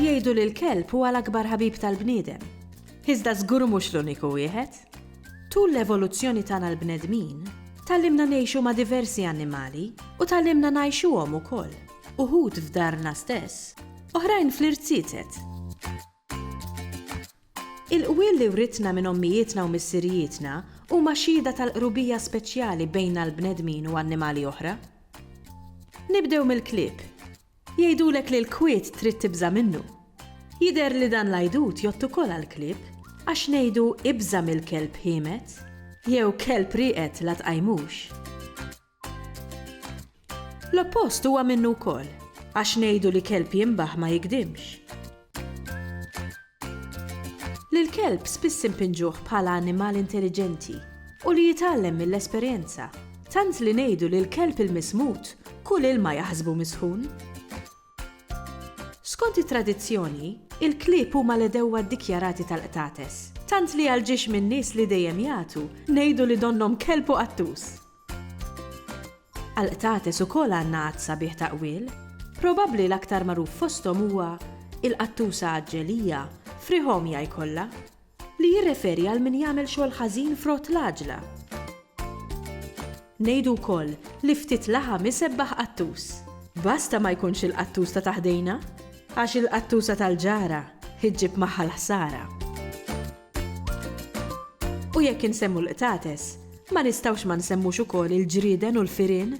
Jgħidu li l-kelb huwa l-akbar ħabib tal-bniedem. Iżda żgur mhux l-uniku wieħed. Tul l-evoluzzjoni tagħna l-bnedmin, tallimna ngħixu ma' diversi annimali u tallimna ngħixuhom ukoll. uħud f'darna stess, oħrajn fl-irziezet. Il-qwiel li writna minn ommijietna u missirijietna huma xhieda tal-qrubija speċjali bejna l-bnedmin u annimali oħra. Nibdew mill-klieb. Jgħidulek li l-kwiet trid tibża' minnu. Jidher li dan l-għajdut jott ukoll għall-klieb għax ngħidu ibża' mill-kelb ħiemet jew kelb rieqed la tqajmux. L-oppost huwa minnu wkoll, għax ngħidu li kelb jinbaħ ma jigdimx. Lill-kelb spiss inpinġuh bħala annimal intelliġenti u li jitgħallem mill-esperjenza, tant li ngħidu li l-kelb il-mismut kull ilma jaħsbu misħun. Skont it-tradizzjoni, il-klieb huma l-għedewwa ddikjarati tal-qtates, tant li għal ġiex min-nies li dejjem jagħtu, ngħidu li donnhom kelb u qattus. Għall-qtates ukoll għandna għadd sabiħ ta' qwiel. Probabbli l-aktar magħruf fosthom huwa il-qattusa għaġġelija, frihomja jkollha, li jirreferi għal min jagħmel xogħol ħażin frott l-għaġla. Ngħidu wkoll li ftit laħam isebbaħ qattus. Basta ma jkunx il-qattus ta' taħdejna, għax il-qattusa tal-ġara ġġib magħha l-ħsara. U jekk insemmu l-qtates, ma nistgħux ma nsemmux ukoll il-ġrieden u l-firien?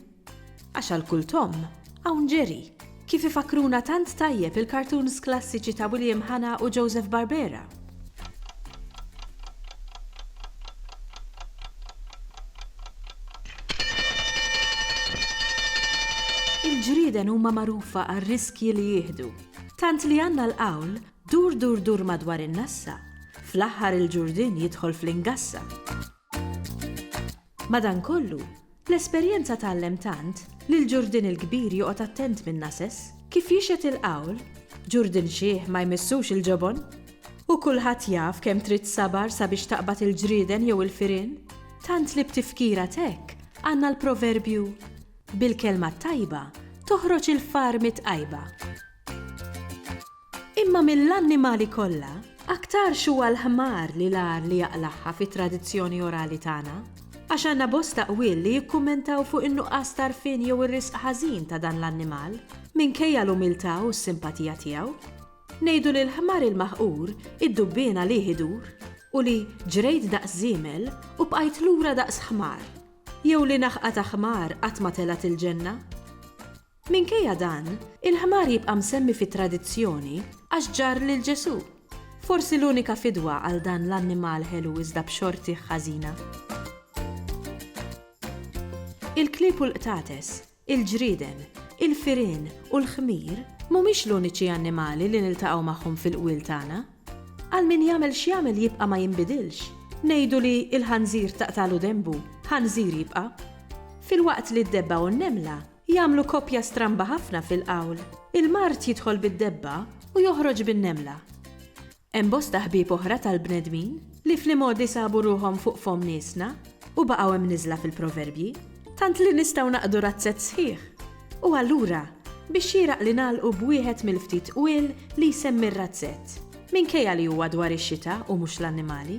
Għax għal kull tomm, hawn ġeri, kif ifakkruna tant tajjeb il-cartoons klassiċi ta' William Hanna u Joseph Barbera. Il-ġrieden huma magħrufa għar-riskji li jieħdu, tant li għandna l-qawl Dur dur dur madwar in-nassa, fl-aħħar il-ġurdien jidħol fl-ingassa. Madankollu, l-esperjenza tgħallem tant li l-ġurdien il-kbir joqgħod attent min-nases. Kif jixhed il-qawl, ġurdien xiħ ma jmissux il-ġobon. U kulħadd jaf kemm trid sabar sabiex taqbad il-ġrieden jew il-firien, tant li b'tifkira t'hekk għandna l-proverbju, Bil-kelma t-tajba toħroġ il-far mit-tqajba. Imma mill-annimali kollha, aktarx huwa l-ħmar li l-agħar li jaqlagħha fit-tradizzjoni orali tagħna, għax għandna bosta qwiel li jikkummentaw fuq in-nuqqas t'għarfien jew ir-riżq ħażin ta' dan l-annimal, minkejja l-umiltà u s-simpatija tiegħu. Ngħidu li l-ħmar il-maħqur id-dubbien għalih idur u li ġrejt daqs żiemel u bqajt lura daqs ħmar, jew li naħqa ta' ħmar qatt ma telgħet il-ġenna? Minkejja dan, il-ħmar jibqa' msemmi fit-tradizzjoni għax ġarr lil Ġesù. Forsi l-unika fidwa għal dan l-annimal ħelu iżda b'xortih ħażina. Il-klieb u l-qtates, il-ġrieden, il-firien u l-ħmir mhumiex l-uniċi annimali li niltaqgħu magħhom fil-qwiel tagħna. Għal min jagħmel x'jagħmel jibqa' ma jinbidilx. Ngħidu li l-ħanżir taqtagħlu denbu, ħanżir jibqa'. Filwaqt li d-debba u n-nemla Jagħmlu koppja stramba ħafna fil-qawl, il-mard jidħol bid-debba u joħroġ bin-nemla. Hemm bosta ħbieb oħra tal-bnedmin li fl-imgħodi sabu ruħhom fuq fomm niesna u baqgħu imniżżla fil-proverbji, tant li nistgħu naqdu razzett sħiħ. U allura, biex xieraq li nagħlqu b'wieħed mill-ftit qwiel li jsemmi r-razzett, minkejja li huwa dwar ix-xita u mhux l-annimali.